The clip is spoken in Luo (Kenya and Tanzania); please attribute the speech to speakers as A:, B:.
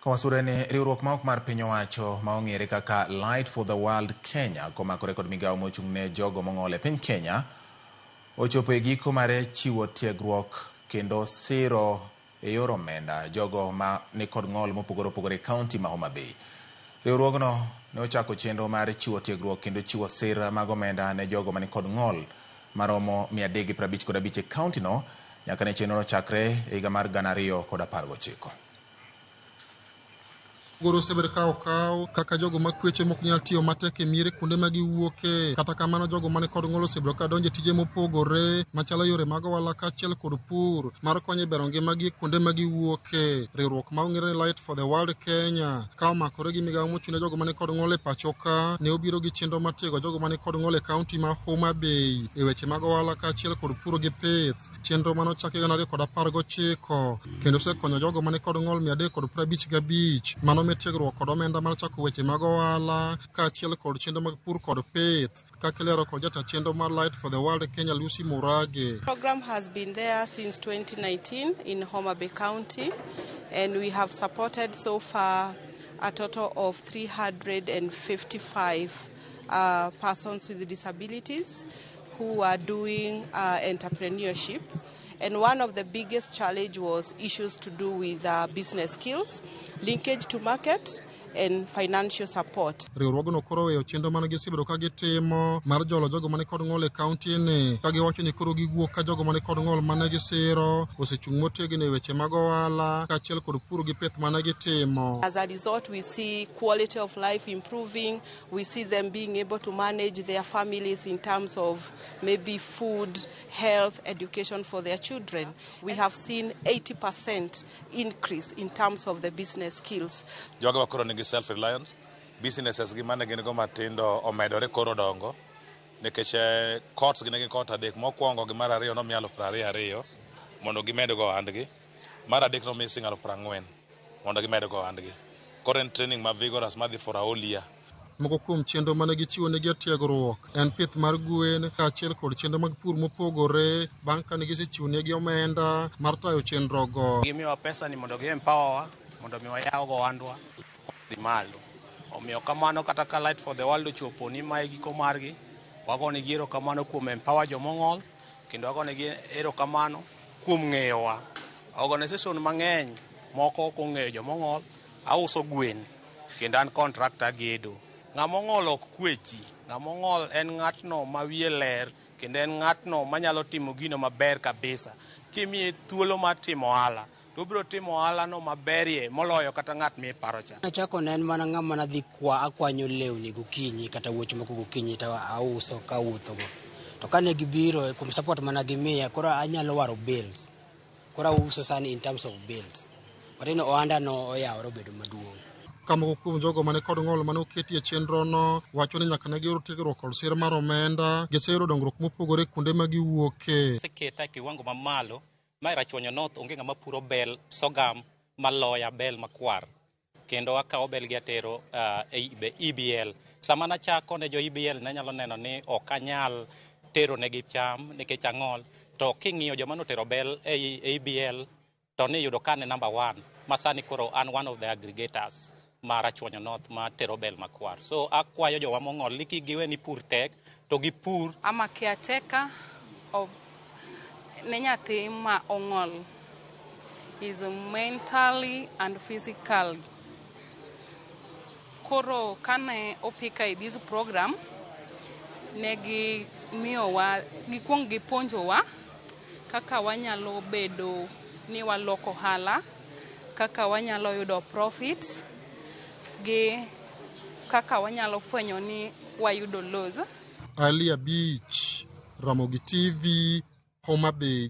A: Kawasure ni riwruok maok mar piny owacho ma ong'ere kaka Light for the World Kenya komakore kod migawo mochung' ne jogo mong'ol e piny Kenya ochopo e giko mare chiwo tiegruok kendo siro e yor omenda jogo ma ni kod ng'ol mopogore opogore e kaunti ma Homa Bay. Riwruogno ne ochako chenro mar chiwo tiegruok kendo chiwo sir mag omenda ne jogo ma ni kod ng'ol maromo 355 e kauntino nyaka ne chenrono chakre e higa mar 2019.
B: Goro osebedo ka okaw kaka jogo ma kweche mok nyal tiyo matek e miere kuonde ma giwuoke. Kata kamano, jogo mane kod ng'ol osebedo ka donjo e tije mopogore machalo yore mag ohala kaachiel kod pur mar konyo e bero ngimagi e kuonde ma giwuoke. Riwruok ma ong'ere ni Light for the World Kenya ka omakore gi migawo mochung' ne jogo mane kod ng'ol e pacho ka ne obiro gi chenro mar tiego jogo mane kod ng'ol e kaunti ma Homa Bay e weche mag ohala kaachiel kod puro gi pith. Chenro mane ochaki gana ariyo kod apar gochiko kendo osekonyo jogo mani kod ng'ol mia adek kod prabich gabich mano me tiegruok kod omenda mar chako weche mag ohala kaachiel kod chenro mag pur kod pith kaka ilero kod jata chenro mar Light for the World Kenya Lucy Murage. Program has been
C: there since 2019 in Homa Bay County and we have supported so far a total of 355 uh, persons with disabilities. who were doing uh, entrepreneurship. And one of the biggest challenge was issues to do with uh, business skills, linkage to market, and financial support. riwruogno koro oweyo
B: chenro mane gisebedo ka gitimo mar jolo jogo mane kod ng'ol e kauntini ka giwacho ni koro giwuok ka jogo mane kod ng'ol mane gisiro osechung' motegno e weche mag ohala kaachiel kod pur gi pith mane gitimo As a result, we
C: see quality of life improving, We see them being able to manage their families in terms of maybe food, health, education for their children. We have seen 80% increase in terms of the business skills. Joga wakoro nigi self
D: reliance. Businesses gi mane gin go matindo omedore koro dongo nikech eh, courts gi ne gin court adek mokwongo gi mar ariyo nomiya aluf piero ariyo ariyo mondo gimed go ohandgi mar adek nomiya siling' aluf piero ang'wen mondo gimed go ohandgi. Koro en training ma vigorous madhi for a whole year. Moko kuom chenro
B: mane gichiwo ne jotiegruok en pith mar gwen kaachiel kod chenro mag pur mopogore bang' kane gisechiwo negi omenda mar tayo chenrogo. Gimiyowa pesa ni mondo gi
E: empower wa mondo mi wayaw go ohandwa dhi malo. Omiyo kamano kata ka Light for the World ochopo ni mae giko margi, wagonegi erokamano kuom empower joma ong'ol kendo wagonegi erokamano kuom ng'eyowa. Organization mang'eny moko ok ong'eyo joma ong'ol. Auso gwen kendo an contractor agedo. Ng'ama ong'ol ok kwechi. Ng'ama ong'ol en ng'atno ma wiye ler kendo en ng'atno manyalo timo gino maber kabisa. Kimiye thuolo mar timo ohala to obiro timo ohalano maberie moloyo kata ng'at miparo cha. Nachako ne en mana ng'ama
F: nadhi kwa akwanyo lewni gokinyi kata wuoch moko gokinyi to auso kawuothogo. to kane gibiro eh, kuom support mana gimiya koro anyalo waro bills koro auso sani in terms of bills wateno ohanda no oyawore obedo maduong' ka moko kuom jogo
B: mane kod ng'ol mane oketi e chenrono wacho ni nyaka ne giyud tiegruok kod sir mar omenda giseyudo dongruok mopogore kuonde ma giwuoke seketa e kiwango
G: mamalo ma e rachuonyo north onge ng'ama puro bel sogam maloya bel makwar kendo akawo belgi atero uh, EBL. Sama nachako ne jo EBL ne nyalo neno ni ok anyal tero negi cham nikech ang'ol, to king'iyo joma notero bel ei EBL to ni yudo ka ne number one, ma sani koro an one of the aggregators ma Rachuonyo North ma tero bel makwar. So akwayo jowa mong'ol ni kik giwe ni pur tek, to gi pur. I'm a caretaker
H: of ne nyathi ma ong'ol is mentally and physically. Koro kane opika i this program ne gi miyowa gikwong gipuonjowa kaka wanyalo bedo ni waloko ohala, kaka wanyalo yudo profits gi kaka wanyalo fwenyo ni wayudo lows.
B: Ali
H: Abich,
B: Ramogi TV, Homa Bay.